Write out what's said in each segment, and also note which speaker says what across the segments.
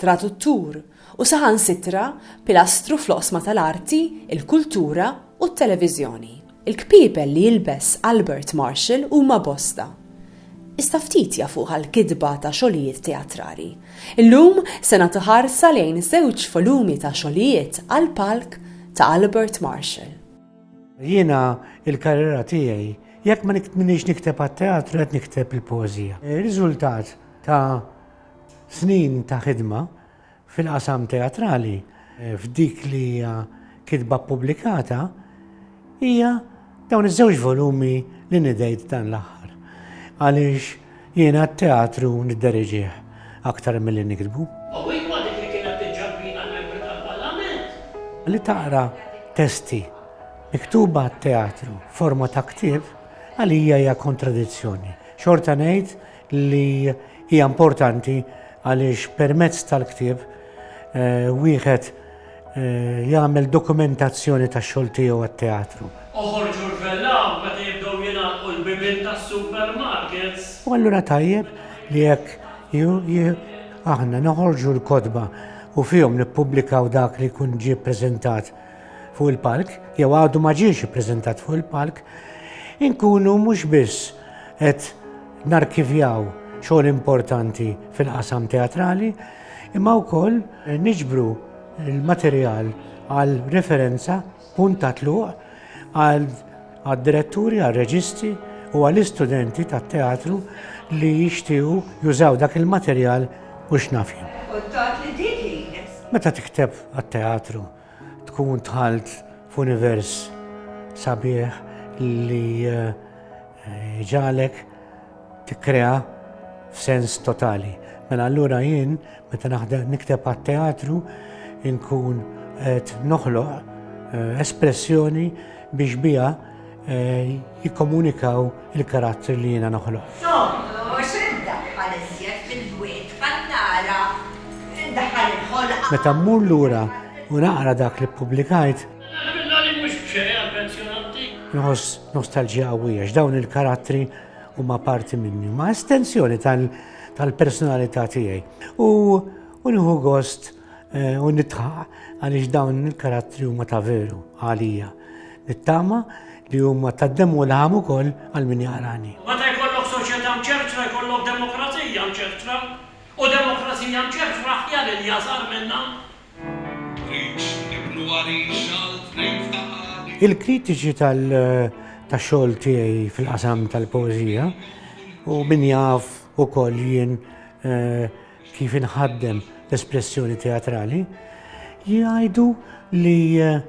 Speaker 1: traduttur u saħansitra pilastru fl-oqsma tal-arti, il-kultura u t-televiżjoni. Il-kpiepel li jilbes Albert Marshall huma bosta, iżda ftit jafuh għall-kitba ta' xogħlijiet teatrali. Illum se nagħtu ħarsa lejn żewġ volumi ta' xogħlijiet għall-palk ta' Albert Marshall. Jiena l-karriera tiegħi jekk ma nikteb għat-teatru qed nikteb il-poeżija. Ir-riżultat ta' Snin ta' ħidma fil-qasam teatrali f'dik li hija kitba ppubblikata hija dawn iż-żewġ volumi li nidejt dan l-aħħar. Għaliex jiena t-teatru nidderiġih aktar milli niktbu. Li taqra testi miktuba għat-teatru f'forma ta' ktieb għalija hija kontradizzjoni. Xorta ngħid li hija importanti għaliex permezz tal-ktieb wieħed jagħmel dokumentazzjoni tax-xogħol tiegħu għat-teatru. Oħorġu rvellaw meta jibdew jingħalqu l-bibien tas-supermarkets. U allura tajjeb li jekk aħna noħorġu l-kotba u fihom nippubblikaw dak li jkun ġie ppreżentat fuq il-palk, jew għadu ma ġiex ippreżentat fuq il-palk, inkunu mhux biss qed narkivjaw xogħol importanti fil-qasam teatrali, imma wkoll niġbru l-materjal għal referenza punt ta' tluq għal diretturi, għal reġisti u għal istudenti tat teatru li jixtiju jużaw dak il-materjal u x'nafju. Meta tikteb għat-teatru, Tkun dħalt f'univers sabiħ li eh, ġalek tikkrea f'sens totali. Mela allura jien meta naħdem nikteb għat-teatru inkun qed noħloq eh, espressjoni biex biha Eh, jikkomunikaw il-karattri li jiena noħloq. Meta mmur lura u naqra dak li ppubblikajt, nħoss nostalġija qawwija x'dawn il-karattri huma parti minni, ma' estensjoni tal-personalità tiegħi. U nieħu gost Eh, u nitħaq għaliex dawn il-karattri huma ta' veru għalija. Nittama li huma ta' demmu u laħam ukoll għal min jaqrani. Meta jkollok soċjetà mċertra jkollok demokrazija mċertra u demokrazija mċertra aħjar li jażar minnha. Il-kritiċi tal-xogħol tiegħi fil-qasam tal-poeżija u min jaf ukoll jien eh, kif inħaddem l-espressjoni teatrali, jgħidu li eh,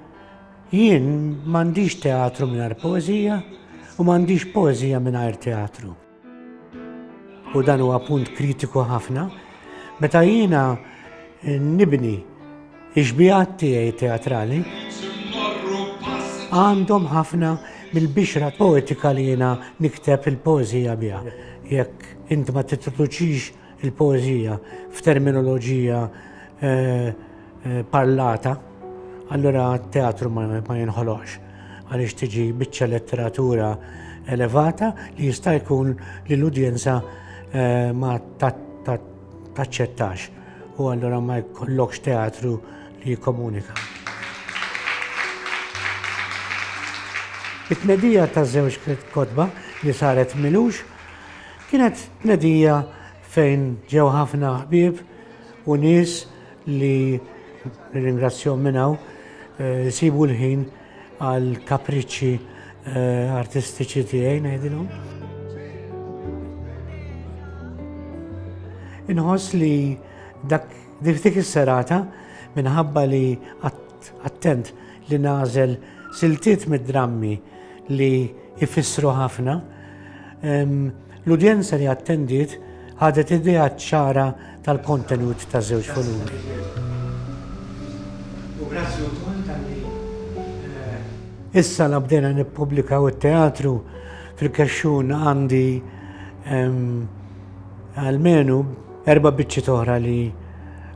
Speaker 1: jien m'għandix teatru mingħajr poeżija u m'għandix poeżija mingħajr teatru. U dan huwa punt kritiku ħafna, meta jiena eh, nibni iġbijat tiegħi teatrali għandhom ħafna mill-bixra poetika li jiena nikteb il-poeżija biha. Jekk int ma titluċix il-poeżija f'terminoloġija parlata, allura t-teatru ma jinħoloqx għaliex tiġi biċċa letteratura elevata li jista' jkun li l-udjenza ma taċċettax u allura ma jkollokx teatru li jikkomunika. It-tnedija ta' żewġ kotba li saret Milux Kienet tnedija fejn ġew ħafna ħbieb u nies li nirringrazzjahom minn hawn isibu l-ħin għal kapriċċi artistiċi tiegħi ngħidilhom. Inħoss li dak dik is-serata minħabba li attent li nagħżel siltiet mid-drammi li jfissru ħafna, l-udjenza li attendiet ħadet idea ċara tal-kontenut taż-żewġ volumi. Issa la bdejna nippubblikaw it-teatru, fil-kexxun għandi almenu erba' biċċiet oħra li